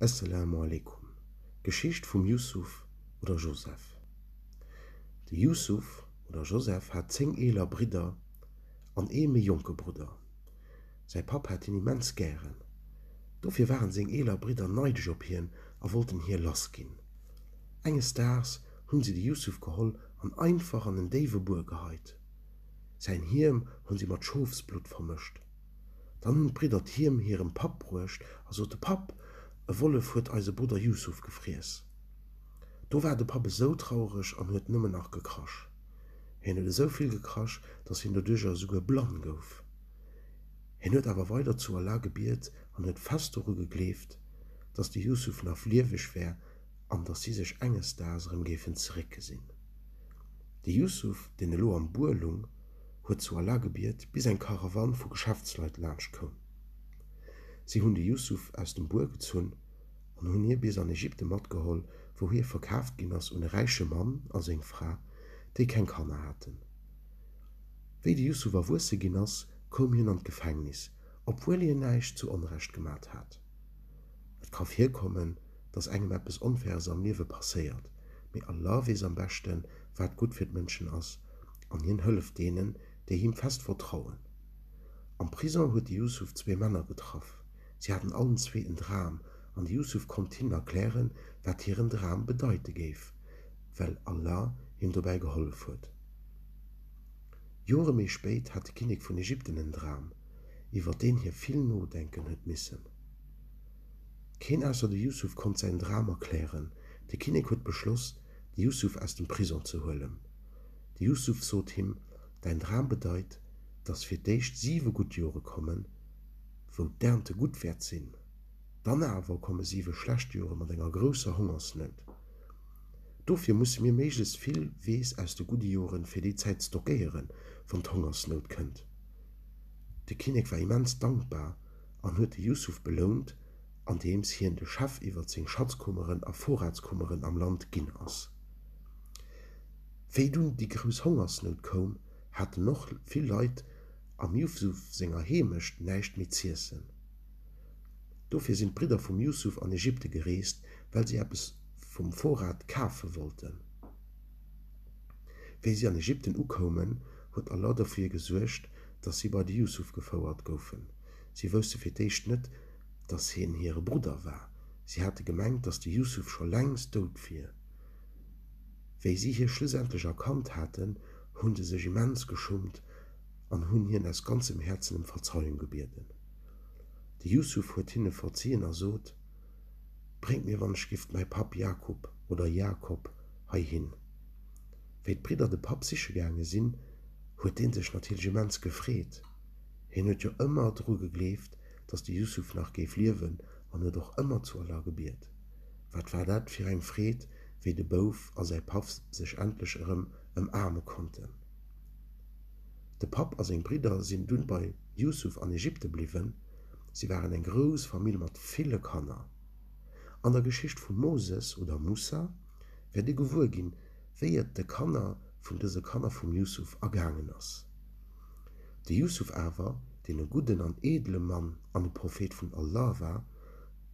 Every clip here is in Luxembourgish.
Esselamu Alaikum, D'Geschicht vum Yusuf oder Joseph De Yusuf oder Joseph hat zéng eeler Bridder an ee méi jonke Brudder. Säi Papp hat hien immens gären. Dofir waren seng eeler Bridder neidesch op hien a wollten hie lass ginn. Enges Daags hunn si de Yusuf geholl an einfach an en déiwe Buer geheit. Säin Hiem hunn si mat Schofsblutt vermëscht. Dann hunn d'Bridder d'Hiem hirem Papp bruecht a sote, Papp, e Wollef huet eise Brudder Yusuf gefriess. Do war de Papp esou traureg an huet nëmmen nach gekrasch. Hien huet esou vill gekrasch, dass hien doduercher esouguer blann gouf. Hien huet awer weider zu Allah gebiet an huet fest doru gegleeft, dass de Yusuf naf lieweg wär an dass si sech enges Daags erëm géifen zeréckgesinn. De Yusuf, deen elo am Buer lung, huet zu Allah gebiet, bis eng Karawann vu Geschäftsleit laanscht koum. Si hunn de Yusuf aus dem Buer gezunn an hunn hie bis an Ägypte matgeholl, wou hie verkaaft ginn ass un e räiche Mann a seng Fra, déi keng Kanner haten. Wéi de Yusuf erwuesse ginn ass, koum hien an d'Gefängnis, obwuel hien näischt zu Onrecht gemat hat. Et ka virkommen, dass engem eppes Onfaires am Liewe passéiert, mee Allah weess am beschten, wat gutt fir d'Mënschen ass an hien hëlleft deenen, déi him fest vertrauen. Am Prisong huet de Yusuf zwee Männer getraff. Si haten allen zwee en Dram an de Yusuf konnt hinnen erklären, wat hiren Dram bedeite géif, well Allah him dobäi gehollef huet. Jore méi spéit hat de Kinnek vun Ägypten en Dram, iwwer deen hie vill nodenken huet missen. Keen ausser de Yusuf konnt säin Dram erklären. De Kinnek huet beschloss, de Yusuf aus dem Prisong ze huelen. De Yusuf sot him, Däin Dram bedeit, dass fir d'éischt siwe gutt Jore kommen, wou d'Ernte gutt wäert sinn. Dann awer komme siwe schlecht Jore mat enger grousser Hongersnout. Dofir musse mir méiglechst vill Weess aus de gudde Joren fir déi Zäit stockéieren, wann d'Hongersnout kënnt. De Kinnek war immens dankbar an huet de Yusuf belount, andeems hien de Chef iwwert seng Schatzkummeren a Vorratskummeren am Land ginn ass. Wéi dunn déi grouss Hongersnout koum, haten och vill Leit am Jusuf senger Heemecht näischt méi z'iessen. Dofir sinn d'Bridder vum Jusuf an Ägypte gereest, well si eppes vum Vorrat kafe wollten. Wéi si an Ägypten ukoumen, huet Allah dofir gesuergt, dass si bei de Jusuf gefouert goufen. Si wousste fir d'éischt net, dass hien hire Brudder war. Si hate gemengt, dass de Yusuf scho längst dout wier. Wéi si hie schlussendlech erkannt haten, hunn se sech immens geschummt an hunn hien aus ganzem Häerzen ëm Verzeiung gebieden. De Yusuf huet hinne verziën a sot, Bréngt mir wannechgift mäi Papp Jakub, oder Jakob, heihin. Wéi d'Bridder de Papp siche gaange sinn, huet dee sech natierlech immens gefreet. Hien huet jo ëmmer dru gegleeft, dass de Yusuf nach géif liewen an huet och ëmmer zu Allah gebiet. Wat war dat fir eng Freed, wéi de Bouf a säi Paff sech endlech erëm ëmaarme konnten. De Papp a seng Bridder sinn dunn bei Yusuf an Ägypte bliwwen. Si waren eng grouss Famill mat ville Kanner. An der Geschicht vum Moses oder Mussa wäert ee gewuer ginn, wéi et de Kanner vun dëse Kanner vum Yusuf ergaangen ass. De Jusuf awer, deen e gudden an eedele Mann an e Prophet vun Allah war,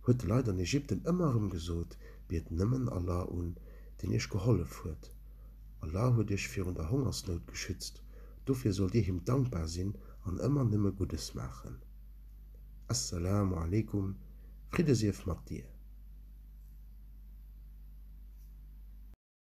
huet de Leit an Ägypten ëmmer erëm gesot, Biet nëmmen Allah un, deen iech gehollef huet. Allah huet iech virun der Hongersnout geschützt, dofir sollt dir him dankbar sinn an ëmmer nëmme Guddes maachen. As-Salamu Alaikum, Fridde sief mat dir!